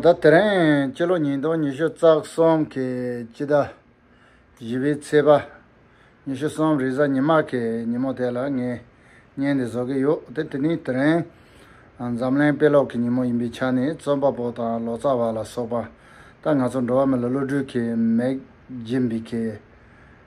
ད་དེ་རིང་སྤྱི་ལོ་ཉིས་སྟོང་ཉི་ཤུ་རྩ་གསུམ་གྱི་དཔྱིད་ཟླ་བཞི་པའི་ཚེས་པ། ཉི་ཤུ་གསུམ་རེས་གཟའ་ཉི་མ་གི་ཉིན་མོ་དེ་ལ་ངས་བརྙན་འདི་བཟོ་གི་ཡོད་དེ། དེ་ནི་དེ་རིང་འཛམ་གླིང་དཔེ་ཀློག་གི་ཉིན་མོ་ཡིན་པའི་ཆ་ནས་རྩོམ་པ་པོ་དང་ལོ་ཙཱ་བ་ལ་སོགས་པ་ད་ང་ཚོ་འགྲོ་བ་མི་ལ་བློ་གྲོས་ཀྱི་མེག་སྦྱིན་པའི་ཁེ་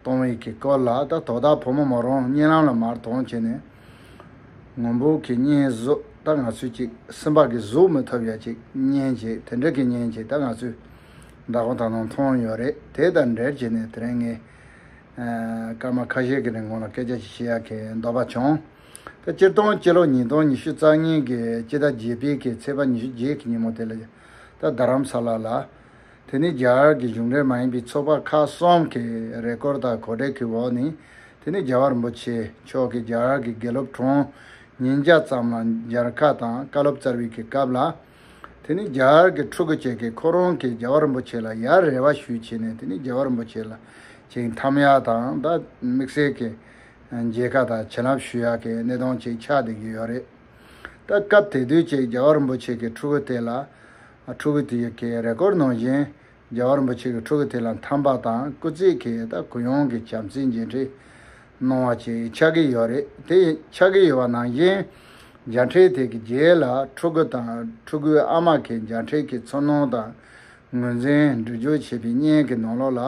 གཏོང་བའི་གི་སྐོར་ལ་ད་དོ་བདག་ཕོ་མོ་མོ་རང་གཉེན་ལམ་ལ་མར་དོང་བྱས་ནས། ངུ་འབོད་གི་བརྙན་བཟོས་ད་ང་ཚོས་ཅིག་སིམ་པ་གི་གཟུགས་མི་ཐོབ་ཡ་ཅིག་བརྙན་ཅིག་དེ་འདྲ་གི་བརྙན་ཅིག་ད་ང་ཚོས་འདྲ་གོང་ད་ནང་མཐོང་ཡོད་རེད་དེ་དང་འབྲེལ་བྱས་ནས་དེ་རིང་ངས་སྐར་མ་ཁ་ཤས་གི་རིང་གོང་ལ་སྐད་ཆ་ཅིག་བཤད་ཡག་གི་འདོད་པ་བྱུང། ད་སྤྱིར་བཏང་སྤྱི་ལོ་ཉིས་སྟོང་ཉི་ཤུ་རྩ་གཉིས་གི་སྤྱི་ཟླ་བརྒྱད་པའི་གི་ཚེས་པ་ཉི་ཤུ་བརྒྱད་གི་ཉིན་མོ་དེ་ལ་ད་རྡ་རམ་ས་ལ་ལ། དེ་ནི་རྒྱ་གར་གྱི་གཞུང་འབྲེལ་མ་ཡིན་པའི་ཚོགས་པ་ཁག་གསུམ་གྱི་རེ་སྐོར་དང་གོ་སྒྲིག་གི་འོག་ནས་དེ་ནི་རྒྱལ་བ་རིན་པོ་ཆེ་མཆོག་གིས་རྒྱ་གར་གྱི་དགེ་སློབ་གྲོང་ཉིས་བརྒྱ་ཙམ་ལ་མཇལ་ཁ་དང་བཀའ་སློབ་སྩལ་བའི་གི་སྐབས་ལ། དེ་ནི་རྒྱ་གར་གྱི་ཕྲུ་གུ་བཅས་ཀྱིས་ཁོ་རང་གིས་རྒྱལ་བ་རིན་པོ་ཆེ་ལ་ཡར་རེ་བ་ཞུས་བྱས་ནས་དེ་ནི་རྒྱལ་བ་རིན་པོ་ཆེ་ལ་ཅིང་འཐམ་ཡ་དང་ད་དམིགས་བསལ་གྱི་མཇལ་ཁ་དང་བྱིན་རླབས་ཞུ་ཡ་གི་གནས་སྟངས་ཅིག་ཆགས་བསྡད་ཀྱི་ཡོད་རེད། ད་སྐབས་དེ་དུས་ཀྱི་རྒྱལ་བ་རིན་པོ་ཆེ་གི་ཕྲུ་གུ་དེ་ལ་ཕྲུ་གུ་དེ་གའི་རེས་སྐོར་ནང་བཞིན་རྒྱ་གར་རིན་པོ་ཆེ་གིས་ཕྲུ་གུ་དེ་ལ་འཐམ་པ་དང་སྐུ་ཚེ་གེ་ད་གུ་ཡངས་ཀྱི་བྱམས་བརྩེའི་མཇལ་འཕྲད་གནང་བ་བཅས་ཆགས་ཀྱི་ཡོད་རེད་དེ་ཆགས་ཀྱི་ཡོད་པ་ནང་བཞིན་མཇལ་འཕྲད་དེ་གི་རྗེས་ལ་ཕྲུ་གུ་དང་ཕྲུ་གུའི་ཨ་མ་གིས་མཇལ་འཕྲད་ཀྱི་ཚོར་སྣང་དང་ངོས་འཛིན་འབྲི་སྦྱོར་བྱས་པའི་བརྙན་གྱི་ནང་ལོགས་ལ་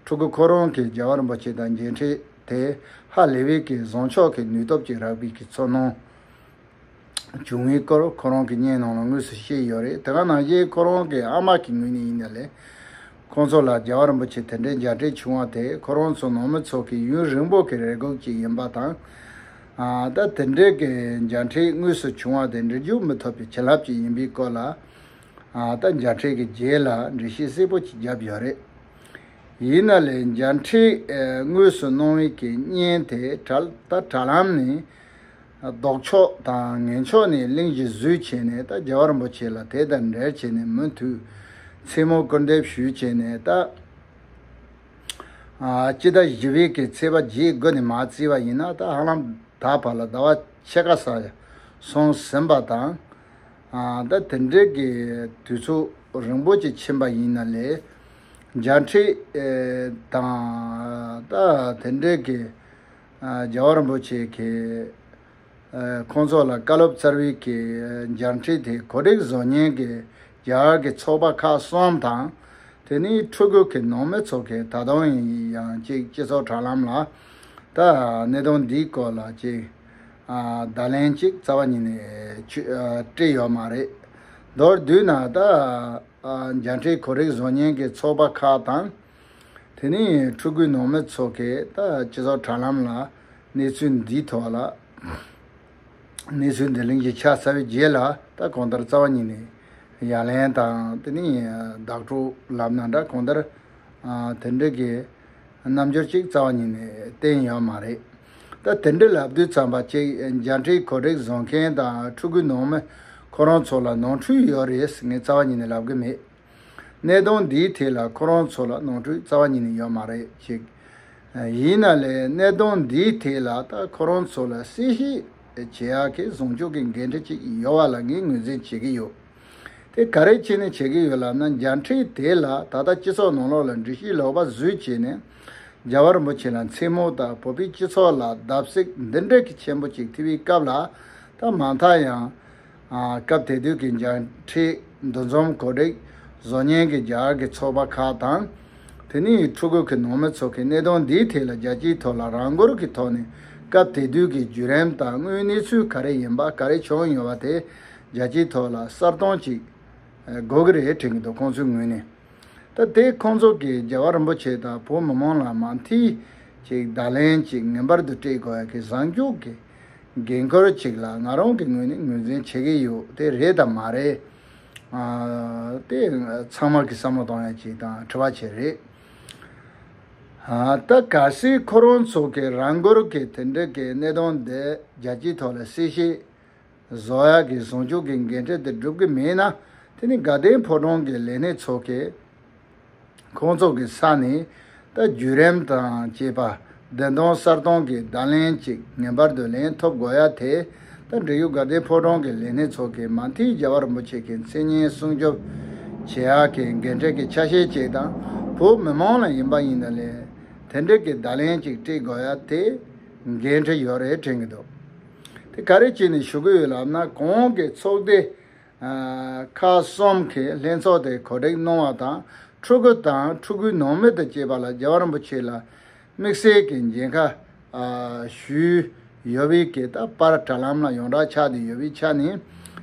ཕྲུ་གུ་ཁོ་རང་གིས་རྒྱ་གར་རིན་པོ་ཆེ་དང་མཇལ་འཕྲད་དེ་ཧ་ལེ་བྷེ་ཀི་བཟང་ཕྱོགས་ཀྱི་ནུས་སྟོབས་ཀྱི་རགས་པའི་གི་ཚོར་སྣང། བྱུང་བའི་སྐོར་ཁོ་རང་གིས་བརྙན་ནང་ལ་དངོས་སུ་བཤད་ཡོད་རེད་དེ་སྔ་ནང་བཞིན་ཁོ་རང་གི་ཨ་མ་གི་ངོས་ནས་ཡིན་ན་ལེ། ཁོ་ཚོ་ལ་རྒྱལ་བ་རིན་པོ་ཆེ་དེ་འདྲའི་མཇལ་འཕྲད་བྱུང་བ་དེ་ཁོ་རང་ཚོ་ནང་མི་ཚོ་གི་ཡུན་རིང་པོ་གི་རེ་སྒུག་ཅིག་ཡིན་པ་དང། ད་དེ་འདྲའི་གི་མཇལ་འཕྲད་དངོས་སུ་བྱུང་བ་དེ་འདྲི་འཇུག་མི་ཐོབ་པའི་བྱིན་རླབས་ཅིག་ཡིན་པའི་སྐོར་ལ། ད་མཇལ་འཕྲད་གི་རྗེས་ལ་འགྲེལ་བཤད་གསལ་པོ་ཅིག་བརྒྱབ་ཡོད་རེད། ཡིན་ན་ལེ་མཇལ་འཕྲད་དངོས་སུ་གནང་བའི་གི་བརྙན་དེ་ད་དྲ་ལམ་ནས། ལྡོག་ཕྱོགས་དང་ངན་ཕྱོགས་ནས་གླིང་བཞི་བཟོས་བྱས་ནས་ད་རྒྱལ་བ་རིན་པོ་ཆེ་ལ་དེ་ལྟར་འབྲེལ་བྱས་ནས་མུ་མཐུད་མཚན་མོ་སྐུར་འདེབས་ཞུས་བྱས་ནས་ད། སྤྱི་ཟླ་བཞི་བའི་གི་ཚེས་པ་བརྒྱད་དགུ་ནས་མ་བརྩིས་པ་ཡིན་ན་ད་ཧ་ལམ་ད་བར་ལ་ཟླ་བ་ཕྱེད་ཀ་སར་སོང་ཟིན་པ་དང། ད་དེ་འབྲེལ་གི་དུས་ཚོད་རིང་པོ་ཅིག་ཕྱིན་པ་ཡིན་ན་ལས་འཇའ་འཕྲེད་དང། ད་དེ་འབྲེལ་གི། རྒྱལ་བ་རིན་པོ་ཆེ་གིས་ཁོང་ཚོ་ལ་བཀའ་སློབ་བསྩལ་བའི་སྦྱར་འཕྲིན་དེ་གོ་སྒྲིག་བཟོ་ཉན་གྱིས་རྒྱ་གར་གྱི་ཚོགས་པ་ཁག་གསུམ་དང། དེ་ནི་ཕྲུ་གུ་གི་ནང་མི་ཚོ་གིས་ད་དུང་ཡིན་ཡང་ཅིག་སྤྱི་ཚོགས་དྲ་ལམ་ལ་ད་གནད་དོན་འདིའི་སྐོར་ལ་ཅིག་བརྡ་ལན་ཅིག་རྩ་བ་ཉིད་ནས་དཀྲིས་ཡོད་མ་རེད། མདོར་བསྡུས་ན་ད་སྦྱར་འཕྲིན་གོ་སྒྲིག་བཟོ་ཉན་གྱི་ཚོགས་པ་ཁག་དང། དེ་ནས་ཕྲུ་གུའི་ནང་མི་ཚོ་གས་ད་སྤྱི་ཚོགས་དྲ་ལམ་ལ་གནས་ཚུལ་འདིའི་ཐོག་ལ་གནས་ཚུལ་འདི་ལིང་ཞིག་ཆགས་ཚར་བའི་རྗེས་ལ་ད་གང་ལྟར་རྩ་བ་ཉིད་ནས་ཡ་ལན་དང་དེ་ནས་བདག་སྤྲོད་ལབ་ན་འདྲ་གང་ལྟར་དེ་འདྲ་གི་རྣམ་འགྱུར་ཅིག་རྩ་བ་ཉིད་ནས་བསྟན་ཡོད་མ་རེད། ད་དེ་འདྲ་ལབ་དུས་ཚང་པ་ཅིག་འཇའ་འཕྲིན་གོ་སྒྲིག་བཟོ་མཁན་དང་ཕྲུ་གུའི་ནང་མི་ཁོ་རང་ཚོ་ལ་ནང་འཁྲུལ་ཡོད་རེད་ངས་རྩ་བ་ཉིད་ནས་ལབ་གི་མེད། གནད་དོན་འདིའི་ཐད་ལ་ཁོ་རང་ཚོ་ལ་ནོར་འཁྲུལ་རྩ་བ་ཉིད་ནས་ཡོད་མ་རེད་ཅེས། ཡིན་ན་ལས་གནད་དོན་འདིའི་ཐད་ལ་ད་ཁོ་རང་ཚོ་ལ་གསལ་བཤད་བྱེད་ཡག་གི་བཟུང་བཅུག་གི་འགན་འཁྲི་ཅིག་ཡོད་བ་ལ་ངས་ངོས་འཛིན་བྱེད་ཀྱི་ཡོད། དེ་ག་རེ་བྱས་ནས་བྱེད་ཀྱི་ཡོད་ལབ་ན་འཇའ་འཕྲིན་དེ་ལ་ད་ལྟ་སྤྱི་ཚོགས་ནང་ལོགས་ལ་འདྲི་གཞི་ལོག་པ་བཟོས་བྱས་ནས་རྒྱ་བལ་འབོ་ཆེ་ལ་མཚན་མོ་ད་བོད་པའི་སྤྱི་ཚོགས་ལ་བརྡབ་གསིག་འདི་འདྲ་གི་ཆེན་པོ་ཅིག་ཐེབས་པའི་སྐབས་ལ་ད་མ་མཐའ་ཡང། སྐབས་དེ་དུས་ཀྱི་འཇར་ཁྲི་འདུ་འཛོམས་གོ་སྒྲིག་བཟོ་ཉན་གྱི་འཇར་གྱི་ཚོགས་པ་ཁག་དང། དེ་ནི་ཡི་ཕྲུ་གུ་གི་ནང་མི་ཚོ་གི་གནས་དོན་འདིའི་ཐད་ལ་རྒྱལ་སྤྱིའི་ཐོག་ལ་རང་འགུལ་གྱི་ཐོག་ནས་སྐབས་དེ་དུས་ཀྱི་བརྒྱུད་རིམ་དང་དངོས་གནས་ཚུལ་ག་རེ་ཡིན་པ་ག་རེ་བྱུང་ཡོད་པ་དེ་རྒྱལ་སྤྱིའི་ཐོག་ལ་གསར་བཏང་ཅིག་དགོས་ཀྱི་རེད་དྲན་གྱི་འདུག་ཁོང་ཚོའི་ངོས་ནས་ད་ལྟའི་ཁོང་ཚོ་གིས་རྒྱལ་བ་རིན་པོ་ཆེ་དང་བོད་མི་མང་ལ་མ་མཐིལ་གཅིག་བརྡ་ལན་གཅིག་ངན་པར་དུ་སྤྲད་དགོས་ཀྱི་བཟང་སྐྱོང་གི་འགན་ཁུར་ཅིག་ལ་ང་རང་གི་ངོས་ནས་ངོས་འཛིན་བྱེད་ཀྱི་ཡོད་དེ་རེད་དམ་མ་རེད། དེ་ཚང་མ་གི་བསམ་བློ་གཏོང་ཡ་ཅིག་དང་དྲི་བ་བྱེད་རེད། ད་ག་སིའི་ཁོ་རང་ཚོ་གི་རང་འགུལ་གི་དེ་འདྲི་གི་གནས་སྟངས་འདི་རྒྱལ་སྤྱིའི་ཐོག་ལ་སྲིད་ཞི། བཟོ་ཡ་གི་བཟང་ཕྱོགས་གི་འགན་འཁྲི་འདི་སྒྲུབ་གི་མེད་ན་དེ་ནི་དགའ་ལྡན་ཕོ་བྲང་གི་ལས་སྣེ་ཚོ་གི། ཁོང་ཚོ་གི་ས་ནས་ད་བརྒྱུད་རིམ་དང་བཅས་པ་བདུན་སྟོང་གསར་སྟོང་གི་བརྡ་ལན་གཅིག་ངན་པར་བསྡུ་ལེན་ཐོབ་དགོས་ཡ་དེ་ད་འབྲི་ཡུ་དགའ་ལྡན་ཕོ་བྲང་གི་ལས་སྣེ་ཚོགས་ཀྱིས་མ་མཐིལ་རྒྱལ་བ་རིན་པོ་ཆེ་གི་མཚན་སྙན་སྲུང་སྐྱོབ་བྱེད་ཡ་གི་འགན་འཁྲི་གི་ཆ་ཤས་གཅིག་དང་བོ་མི་མང་ལ་ཡིན་པ་ཡིན་ན་ལས་དེ་འབྲི་གི་བརྡ་ལན་གཅིག་སྤྲད་དགོས་ཡ་དེ་འགན་འཁྲི་ཡོད་རེད་དྲན་གི་འདུག་དེ་ག་རེ་བྱས་ནས་ཞུ་གི་ཡོད་ལབ་ན་གོང་གི་ཚོགས་སྡེ་ཁག་གསུམ་གྱི་ལྷན་ཚོགས་དེ་གོ་སྒྲིག་གནང་བ་དང་ཕྲུ་གུ་དང་ཕྲུ་གུའི་ནང་མི་དང་བཅས་པ་ལ་རྒྱལ་བ་རིན་པོ་ཆེ་ལ་དམིགས་བསལ་གྱི་མཇལ་ཁ་ཞུས་ཡོད་པས་གད་ད་པར་དྲ་ལམ་ལ་ཡོངས་གྲགས་ཆགས་བསྡད་ཡོད་པའི་ཆ་ནས་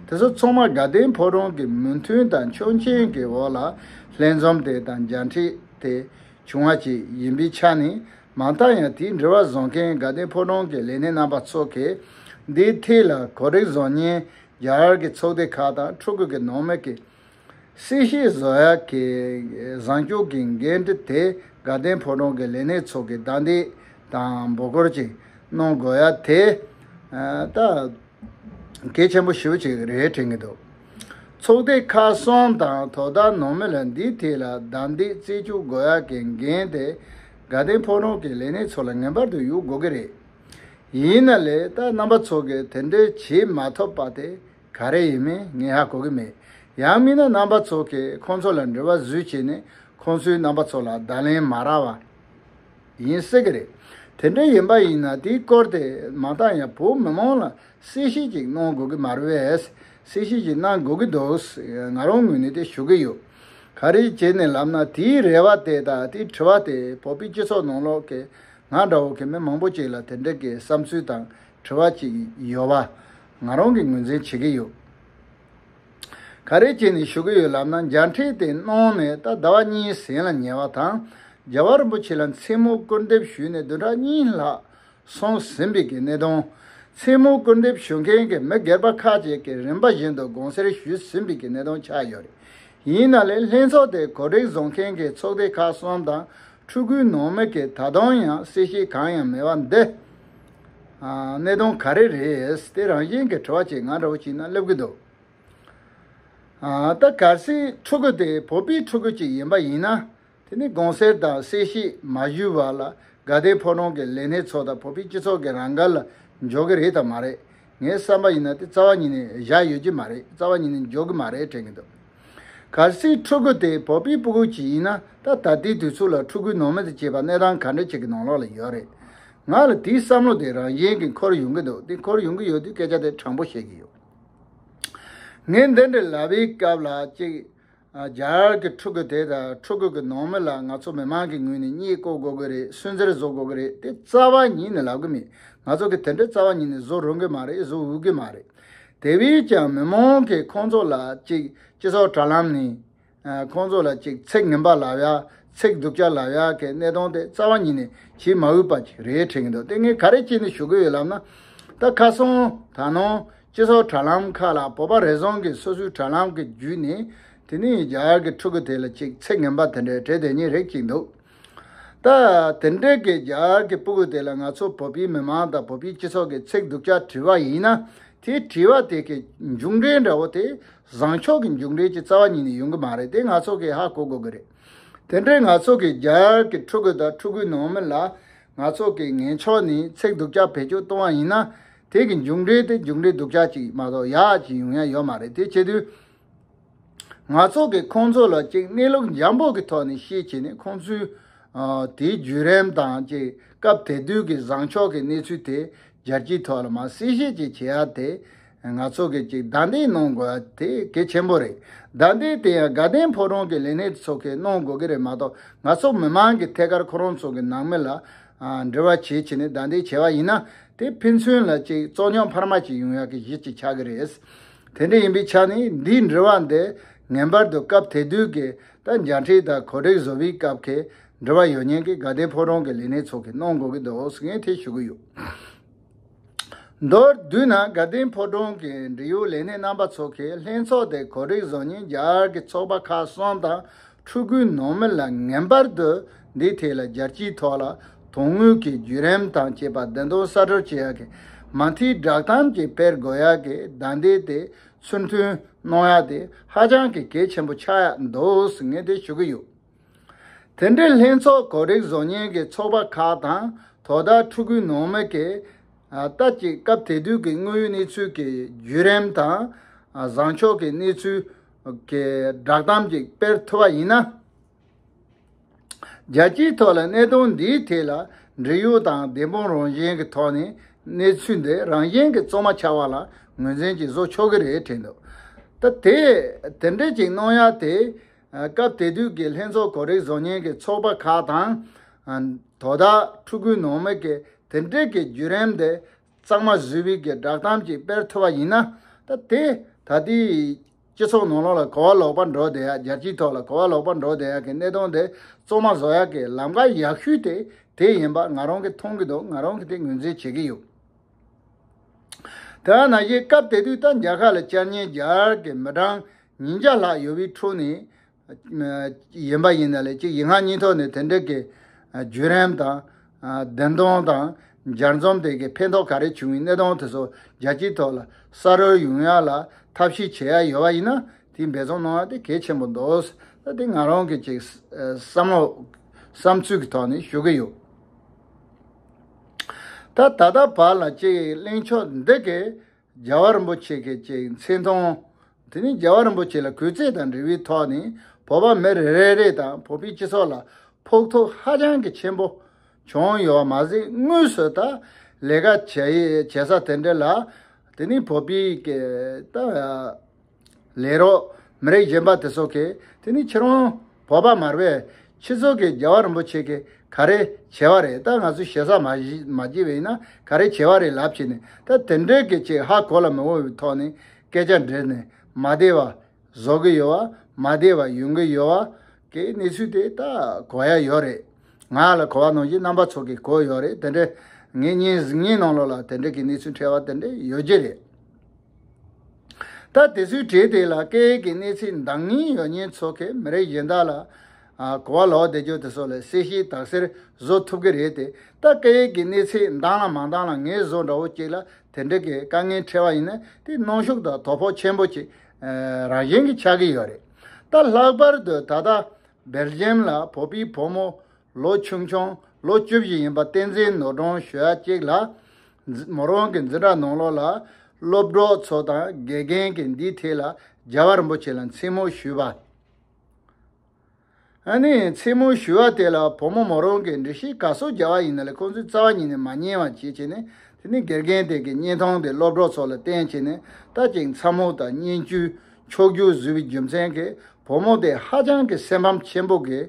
དེ་ཚོ་ཚང་མ་དགའ་ལྡན་ཕོ་བྲང་གི་མོས་མཐུན་དང་ཆོག་མཆན་གྱི་འོག་ལ་ལྷན་འཛོམས་དེ་དང་མཇལ་འཕྲད་དེ་བྱུང་བ་བཅས་ཡིན་པའི་ཆ་ནས་མ་མཐའ་ཡང་དེའི་འབྲེལ་བ་བཟོ་མཁན་དགའ་ལྡན་ཕོ་བྲང་གི་ལས་སྣེ་རྣམ་པ་ཚོ་གིས་འདིའི་ཐད་ལ་གོ་སྒྲིག་བཟོ་ཉན་རྒྱ་གར་གྱི་ཚོགས་སྡེ་ཁག་དང་ཕྲུ་གུ་གི་ནང་མི་གིས། སྲིད་ཞིའི་བཟོ་གཡར་གྱི་བཟང་སྤྱོད་ཀྱི་འགན་འཁྲི་དེ་དགའ་ལྡན་ཕོ་བྲང་གི་ལས་སྣེ་ཚོ་གིས་བདའ་འདེད་དང་འབོད་སྐོར་ཅིག་གནང་དགོས་ཡ་དེ་ལྟ། གལ་ཆེན་པོ་ཞིབ་ཅིག་རེད་དྲན་གྱི་འདུག་ཚོགས་སྡེ་ཁག་གསུམ་དང་དོ་བདག་ནང་མི་ལ་འདིའི་ཐད་ལ་བདའ་འདེད་རྩེ་གཅུག་དགོས་ཡ་གྱི་འགན་དེ་དགའ་ལྡན་ཕོ་བྲང་གི་ལས་སྣེ་ཚོ་ལ་ངེས་པར་དུ་གཡུག་དགོས་ཀྱི་རེད། ཡིན་ན་ལས་ད་རྣམ་པ་ཚོགས་ཀྱི་དེ་འདྲའི་བྱེད་མ་ཐོབ་པ་དེ་ག་རེ་ཡིན་མིན་ངས་ཧ་གོ་གི་མེད། ཡང་མིན་ན་རྣམ་པ་ཚོགས་ཀྱིས་ཁོང་ཚོ་ལ་འབྲེལ་བ་བཟོས་བྱས་ནས་ཁོང་ཚོའི་རྣམ་པ་ཚོགས་ལ་བརྡ་ལན་མ་རག་བ་ཡིན་སྲིད་གི་རེད། དེ་འདྲ་ཡིན་པ་ཡིན་ན་དེའི་སྐོར་དེ་མ་ཏང་ཡང་བོད་མི་མང་ལ་གསལ་བཤད་ཅིག་གནང་དགོས་གི་མ་རེད། གསལ་བཤད་ཅིག་གནང་དགོས་གི་འདུག་ང་རང་ངོས་ནས་དེ་ཞུ་གི་ཡོད། ག་རེ་བྱས་ནས་ལབ་ན་དེའི་རེ་བ་དེ་དང་དེའི་དྲི་བ་དེ་བོད་པའི་སྤྱི་ཚོགས་ནང་ལོག་གི་ང་འདྲ་བོ་གི་མི་མང་པོ་ཅིག་ལ་དེ་འདྲ་གི་བསམ་ཚུལ་དང་དྲི་བ་ཅིག་ཡོད་བ། ང་རང་གི་ངོས་འཛིན་བྱེད་ཀྱི་ཡོད། ག་རེ་བྱེད་ནས་ཞུ་གི་ཡོད་ལབ་ན་འཇའ་འཕྲེང་དེ་གནང་ནས་ད་ཟླ་བ་གཉིས་ཟིན་ལ་ཉེ་བ་དང་རྒྱལ་བ་རིན་པོ་ཆེ་ལ་མཚན་མོ་སྐུར་འདེབས་ཞུས་ནས་བདུན་ཕྲག་གཉིས་ལྷག་སོང་ཟིན་པའི་གི་གནད་དོན། མཚན་མོ་སྐུར་འདེབས་ཞུ་མཁན་གི་མི་སྒེར་པ་ཁག་ཅིག་གི་རིམ་པ་བཞིན་དུ་དགོངས་སེལ་ཞུས་ཟིན་པའི་གི་གནད་དོན་ཆགས་ཡོད་རེད། ཡིན་ན་ལས་ལྷན་ཚོགས་དེ་གོ་སྒྲིག་བཟོ་མཁན་གྱི་ཚོགས་སྡེ་ཁག་གསུམ་དང་ཕྲུ་གུའི་ནང་མི་གིས་ད་དུང་ཡང་གསལ་བཤད་གང་ཡང་མེད་པ་འདི། གནད་དོན་ག་རེ་རེད་དེ་རང་བཞིན་གྱི་དྲི་བ་ཅིག་ང་འདྲ་བོ་ཞིག་ན་སླེབས་ཀྱི་འདུག་ད་གལ་སྲིད་ཕྲུ་གུ་དེ་བོད་པའི་ཕྲུ་གུ་ཅིག་ཡིན་པ་ཡིན་ན། དེ་ནི་གོང་གསལ་དང་གསལ་བཤད་མ་ཞུས་བར་ལ་དགའ་ལྡན་ཕོ་གྲོང་གི་ལས་སྣེ་ཚོ་དང་བོད་པའི་སྤྱི་ཚོགས་ཀྱི་རང་དགར་ལ་འཇོག་གི་རེད་དམ་མ་རེད། ངའི་བསམ་པ་ཡིན་ན་དེ་རྩ་བ་ཉིད་ནས་བཞག་ཡོད་ཀྱི་མ་རེད་རྩ་བ་ཉིད་ནས་འཇོག་གི་མ་རེད་དྲན་གྱི་འདུག་གལ་སྲིད་ཕྲུ་གུ་དེ་བོད་པའི་སྤུ་གུ་ཞིག་ཡིན་ན་ད་ད་ལྟའི་དུས་ཚོད་ལ་ཕྲུ་གུའི་ནང་མི་དང་བྱས་པ་གནས་སྟངས་ག་འདྲ་ཞིག་གི་ནང་ལོགས་ལ་ཡོད་རེད། ང་ལ་དེའི་བསམ་བློ་དེ་རང་གཞན་གྱི་འཁོར་ཡོང་གི་འདུག་དེ་འཁོར་ཡོང་གི་ཡོད་དུས་སྐད་ཆ་དེ་དྲང་པོ་བཤད་ཀྱི་ཡོད། ངས་འདི་འདྲའི་ལྭ་བའི་སྐབས་ལ་གཅིག། སྦྱར་གི་ཕྲུ་གུ་དེ་དང་ཕྲུ་གུ་གི་ནང་མི་ལ་ང་ཚོ་མི་མང་གི་ངོས་ནས་རྙེད་བཀུར་དགོས་ཀྱི་རེད་སུན་གཙེར་བཟོ་དགོས་ཀྱི་རེད་དེ་རྩ་བ་ཉིད་ནས་ལབ་ཀྱི་མེད་ང་ཚོ་གི་དེ་འདྲའི་རྩ་བ་ཉིད་ནས་བཟོ་རུང་གི་མ་རེད་བཟོ་འོས་ཀྱི་མ་རེད། དེ་བས་ཀྱང་མི་མང་གིས་ཁོང་ཚོ་ལ་ཅིག་སྤྱི་ཚོགས་དྲ་ལམ་ནས་ཁོང་ཚོ་ལ་ཅིག་ཚིག་ངན་པ་ལབ་ཡ་ཚིག་སྡུག་ཅག་ལབ་ཡ་གི་གནས་སྟངས་དེ་རྩ་བ་ཉིད་ནས་བྱེད་མ་འོས་པ་ཅིག་རེད་དྲན་གྱི་འདུག་དེ་ངས་ག་རེ་བྱས་ནས་ཞུ་གི་ཡོད་ལབ་ན། ད་ཁ་སང་ད་ནངས་སྤྱི་ཚོགས་དྲ་ལམ་ཁག་ལ་བོད་པ་རེ་ཟུང་གིས་སོ་སོའི་དྲ་ལམ་གྱི་བརྒྱུད་ནས་དེ་ནི་ཡིག་སྦྱར་གྱི་ཕྲུ་གུ་དེ་ལ་ཅིག་ཚིག་ངན་པ་དེ་འདྲའི་བྲིས་དེ་གཉིས་རེག་ཅིག་འདུག་ད། དེ་འདྲའི་གི་སྦྱར་གྱི་སྤུ་གུ་དེ་ལ་ང་ཚོ་བོད་པའི་མི་མང་དང་བོད་པའི་སྤྱི་ཚོགས་ཀྱི་ཚིག་སྡུག་ཅག་བྲིས་པ་ཡིན་ན་དེ་བྲིས་པ་དེ་གི་མཇུག་འབྲས་འདྲ་བོ་དེ་བཟང་ཕྱོགས་ཀྱི་མཇུག་འབྲས་ཀྱི་རྩ་བ་ཉིད་ནས་ཡོང་གི་མ་རེད་དེ་ང་ཚོ་གིས་ཧ་གོ་དགོས་ཀྱི་རེད། དེ་འདྲའི་ང་ཚོ་གི་སྦྱར་གྱི་ཕྲུ་གུ་དང་ཕྲུ་གུའི་ནང་མི་ལ་ང་ཚོ་གིས་ངན་ཕྱོགས་ནས་ཚིག་སྡུག་ཅག་བེད་སྤྱོད་གཏོང་བ་ཡིན་ན་དེ་གི་མཇུག་འབྲས་དེ་མཇུག་འབྲས་སྡུག་ཅག་ཅིག་མ་གཏོགས་ཡག་ཅིག་ཡོང་ཡ་ཡོད་མ་རེད་དེ་བྱེད་དུས། ང་ཚོ་གི་ཁོང་ཚོ་ལ་ཅིག་གནས་ལུགས་འཇམ་པོ་གི་ཐོག་ནས་ཤེས་བྱས་ནས་ཁོང་ཚོའི་དེའི་བརྒྱུད་རིམ་དང་ཅིག་སྐབས་དེ་དུས་གི་བཟང་ཕྱོགས་གི་གནས་ཚུལ་དེ་སྦྱར་སྤྱིའི་ཐོག་ལ་མ་གསལ་བཤད་ཅིག་བྱེད་ཡ་དེ་ང་ཚོ་གི་ཅིག་བདའ་འདེད་གནང་དགོས་ཡ་དེ་གལ་ཆེན་པོ་རེད་བདའ་འདེད་དེ་ཡང་དགའ་ལྡན་ཕོ་བྲང་གི་ལས་སྣེ་ཚོ་གིས་གནང་དགོས་གི་རེད་མ་གཏོགས་ང་ཚོ་མི་མང་གི་ཐད་ཀར་ཁོ་རང་ཚོ་གི་ནང་མི་ལ་འབྲེལ་བ་བྱེད་བྱེད་ནས་བདའ་འདེད་བྱས་བ་ཡིན་ན་དེ་ཕན་ཚུན་ལ་ཅིག་བཙོག་སྙོམས་འཕར་མ་ཅིག་ཡོང་ཡག་གི་གཞི་ཅིག་ཆགས་ཀྱི་རེད། དེ་འདྲ་ཡིན་པའི་ཆ་ནས་འདིའི་འབྲེལ་བ་འདི་ངན་པར་དུ་སྐབས་དེ་དུས་ཀྱི་ད་འཇའ་འཕྲིན་དང་གོ་སྒྲིག་བཟོ་བའི་སྐབས་ཀྱི་འབྲེལ་བ་ཡོད་ཉན་གྱི་དགའ་ལྡན་ཕོ་བྲང་གི་ལས་སྣེ་ཚོགས་ཀྱིས་གནང་དགོས་ཀྱི་འདུག་ཟེར་མཁན་དེ་ཞུ་གི་ཡོད། མདོར་བསྡུས་ན་དགའ་ལྡན་ཕོ་བྲང་གི་འབྲེལ་ཡོད་ལས་སྣེ་རྣམ་པ་ཚོགས་ཁེ་ལྷན་ཚོགས་དེ་གོ་རིག་བཟང་ཉིན་རྒྱལ་གྱི་ཚོགས་པ་ཁག་གསུམ་དང་ཕྲུ་གུའི་ནང་མི་ལ་ངན་པར་དུ་འདི་ཐད་ལ་རྒྱལ་སྤྱིའི་ཐོག་ལ་དོན་དངོས་ཀྱི་བརྒྱུད་རིམ་དང་བཅས་པ་བདེན་དོན་གསར་སྦྱོར་བྱེད་ཡག་གི་མ་མཐའི་བསྒྲགས་གཏམ་གྱི་དཔེར་དགོས་ཡག་གི་བརྡ་འདི་དེ་ཚུར་མཐུན་གནང་ཡག་དེ་ཧ་ཅང་གི་གལ་ཆེན་པོ་ཆགས་ཡག་འདུག་ངས་དེ་ཞུ་གི་ཡོད། དེ་འབྲེལ་ལྷན་ཚོགས་གོ་རིག་བཟོ་གཉེར་གྱི་ཚོགས་པ་ཁག་དང་དོ་བདག་ཕྲུ་གུ་ནང་མི་གིས་ལྟ་ཅི་སྐབས་དེ་དུས་ཀྱི་དངོས་ཡོད་གནས་ཚུལ་གྱི་བརྒྱུད་རིམ་དང། བཟང་ཕྱོགས་ཀྱི་གནས་ཚུལ། གི་བསྒྲགས་གཏམ་ཅིག་སྤེལ་ཐུབ་པ་ཡིན་ན། རྒྱལ་སྤྱིའི་ཐོག་ལ་གནད་དོན་འདིའི་ཐད་ལ་འབྲེལ་ཡོད་དང་བདེན་དཔང་རང་བཞིན་གྱི་ཐོག་ནས་གནས་ཚུལ་འདི་རང་བཞིན་གྱི་གཙང་མ་ཆགས་པ་ལ་ངོས་འཛིན་ཅིག་བཟོ་ཆོག་གི་རེད་དྲན་འདུག་ད་དེ་འབྲེལ་ཅིག་གནང་ཡ་དེ། སྐབས་དེ་དུས་ཀྱི་ལྷན་ཚོགས་གོ་རིག་བཟོ་ཉན་གྱི་ཚོགས་པ་ཁག་དང། དོ་བདག་ཕྲུ་གུ་ནང་མི་གིས་དེ་འབྲེལ་གྱི་བརྒྱུད་རིམ་དེ་གཙང་མ་བཟོས་བས་ཀྱི་བསྒྲགས་གཏམ་ཅིག་སྤེལ་ཐུབ་པ་ཡིན་ན། ད་དེ་ད་ལྟའི་སྤྱི་ཚོགས་ནང་ལོགས་ལ་གོ་བ་ལོག་པ་འགྲོ་བསྡད་ཡག་རྒྱལ་སྤྱིའི་ཐོག་ལ་གོ་བ་ལོག་པ་འགྲོ་བསྡད་ཡག་གི་གནད་དོན་དེ་གཙང་མ་བཟོ་ཡག་གི་ལམ་ཁ་ཡག་ཤོས་དེ་དེ་ཡིན་པ་ང་རང་གིས་མཐོང་གི་འདུག་ང་རང་གིས་དེ་ངོས་འཛིན་བྱེད་ཀྱི་ཡོད། དེ་བས་ན་གཞིས་སྐབས་དེ་དུས་ད་རྒྱ་ཁ་ལ་བཅར་ཉན་རྒྱར་གྱི་མི་གྲངས་ཉིན་བརྒྱ་ལྷག་ཡོལ་བའི་ཁྲོད་ནས་ཡིན་པ་ཡིན་ན་ལས་ཀྱི་ཡིག་ངག་གཉིས་ཐོག་ནས་དེ་འབྲེལ་གྱི་བརྒྱུད་རིམ་དང། བདེན་དོན་དང། སྦྱར་རྩོམ་དེ་གའི་ཕན་ཐོགས་ག་རེ་བྱུང་བའི་གནད་དོན་དེ་སོགས་རྒྱལ་སྤྱིའི་ཐོག་ལ་ས་རོལ་ཡོང་ཡ་ལ་ཐབས་ཤེས་བྱེད་ཡ་ཡོད་པ་ཡིན་ན་དེའི་འབད་བརྩོན་གནང་ཡ་དེ་གལ་ཆེན་པོ་འདུག་ད་དེ་ང་རང་གི་ཅིག་བསམ་བློ་བསམ་ཚུལ་གྱི་ཐོག་ནས་ཞུ་གི་ཡོད། ད་ད་ལྟ་བར་ལ་ཅིག་གླེང་ཕྱོགས་འདི་གའི་རྒྱལ་བ་རིན་པོ་ཆེ་སྐད་ཅིག་མཚན་མཐོང། དེ་ནས་རྒྱལ་བ་རིན་པོ་ཆེ་ལ་གུས་བརྩེ་དང་འབྲེལ་བའི་ཐོག་ནས་བོད་པ་མི་རེ་རེ་རེ་དང་བོད་པའི་སྤྱི་ཚོགས་ལ་ཕོག་ཐུག་ཧ་ཅང་གི་ཆེན་པོ་བྱུང་ཡོད་པ་མ་ཟད་དངོས་སུ་ད་ལས་ཀ་བྱེད་ས་དེ་འདྲ་ལ་དེ་ནས་བོད་པའི་སྐད། ལས་རོགས་མི་རིགས་གཞན་པ་དེ་ཚོ་གིས་དེ་ནི་ཁྱེད་རང་བོད་པ་མར་བས་ཁྱེད་ཚོ་གིས་རྒྱལ་བ་རིན་པོ་ཆེ་གིས་ག་རེ་བྱས་བ་རེད་ད་ང་ཚོས་ཞེ་ས་མ་བགྱིས་བས་ཡིན་ན་ག་རེ་བྱས་བ་རེད་ལབ་བྱས་ནས་ད་དེ་འདྲས་ཀྱི་ཅིག་ཧ་གོ་ལ་མི་འོང་བའི་ཐོག་ནས་སྐད་ཆ་འདྲི་ནས་མ་བདེ་བ་བཟོ་གི་ཡོད་བ་མ་བདེ་བ་ཡོང་གི་ཡོད་བ་གི་གནས་ཚུལ་དེ་ད་གོ་ཡ་ཡོད་རེད་ང་ལ་གོ་བ་ནང་བཞིན་རྣམ་པ་ཚོ་གིས་གོ་ཡོད་རེད་དེ་འདྲས་ངས་ཉིན་གཉིས་ནང་ལོགས་ལ་དེ་འདྲས་ཀྱི་གནས་ཚུལ་འཕྲད་བ་དེ་འདྲས་ཡོད་ཀྱི་རེད། ད་དེ་ཚོའི་གྲས་དེ་ལ་སྐད་ཡིག་གི་གནས་ཚུལ་འདང་ངེས་ཡོད་ཉེན་ཚོགས་ཀྱིས་མི་རིགས་གཞན་དག་ལ་གོ་བ་ལོག་བསྡད་རྒྱུ་དེ་སོགས་ལ་གསལ་བཤད་དག་སེལ་བཟོ་ཐུབ་ཀྱི་རེད་དེ་ད་སྐད་ཡིག་གི་གནས་ཚུལ་འདང་ལ་མ་འདང་ལ་ངལ་བཟོ་འདྲ་བོ་ཅིག་ལ་དེ་འདྲ་གི་དཀའ་ངལ་འཕྲད་པ་ཡིན་ན་དེ་གནོན་ཤུགས་དང་དོ་ཕོག་ཆེན་པོ་ཅིག་རང་བཞིན་གྱིས་ཆགས་ཀྱི་ཡོད་རེད་ད་ལྷག་པར་དུ་ད་ལྟ་སྦེལ་ཇེམ་ལ་བོད་པའི་བུ་མོ་ལོ་ཆུང་ཆུང་ལོ་བཅུ་བཞི་ཡིན་པ་བསྟན་འཛིན་ནོར་སྒྲོན་ཞོལ་གཅིག་ལགས། མོ་རང་གི་འཛིན་གྲྭ་ནང་ལོགས་ལ་སློབ་གྲོགས་ཚོ་དང་དགེ་རྒན་གྱིས་འདིའི་ཐད་ལ་རྒྱ་བ་རིན་པོ་ཆེ་ལ་མཚན་མོ་ཞུས་པ། ཨ་ནི་མཚན་མོ་ཞུས་བ་དེ་ལ་བུ་མོ་མོ་རང་གིས་འདྲི་གཞི་ག་སོགས་རྒྱ་བ་ཡིན་ན་ལས་ཁོང་ཚོའི་རྩ་བ་ཉིད་ནས་མ་ཉན་བ་བྱེད་བྱས་ནས་དེ་ནས་དགེ་རྒན་དེ་གི་བརྙན་ཐུང་དེ་སློབ་གྲོགས་ཚོ་ལ་བསྟན་བྱས་ནས་ད་ཅིག་མཚར་མོ་དང་སྙན་བརྒྱུད་ཕྱོགས་བསྒྱུར་བཟོས་པའི་རྒྱུ་མཚན་གིས་བུ་མོ་དེ་ཧ་ཅང་གི་སེམས་ཕམ་ཆེན་པོ་གིས་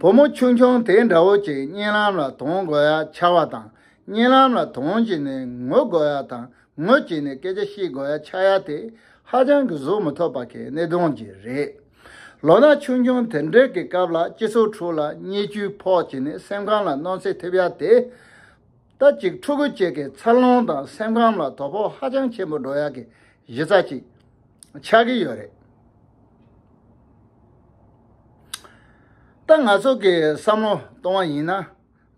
བུ་མོ་ཆུང་ཆུང་དེ་འདྲ་བོ་ཅིག་གཉེན་ལམ་ལ་དོང་དགོས་ཡ་ཆ་བ་དང་གཉེན་ལམ་ལ་དོང་བྱས་ནས་ངུ་དགོས་ཡ་དང་ངུ་བྱས་ནས་སྐད་ཆ་བཤད་དགོས་ཡ་ཆ་ཡ་དེ་ཧ་ཅང་གི་གཟུགས་མི་མཐོ་བ་གའི་གནས་དོན་གྱི་རེད། ལོ་ན་ཆུང་ཆུང་དེ་འདྲའི་གི་སྐབས་ལ་སྤྱི་ཚོགས་ཁྲོད་ལ་བརྙས་བཅོས་ཕོག་བྱས་ནས་སེམས་ཁམས་ལ་གནོན་འཚེ་ཐེབས་ཡ་དེ། རྟ་གཅིག་ཕྲུ་གུ་གཅིག་གི་འཚར་ལོངས་དང་སེམས་ཁམས་ལ་དོ་ཕོག་ཧ་ཅང་ཆེན་པོ་འགྲོ་ཡག་གི་གཞི་རྩ་གཅིག་ཆགས་ཀྱི་ཡོད་རེད། ད་ང་ཚོ་གི་བསམ་བློ་གཏོང་བ་ཡིན་ན།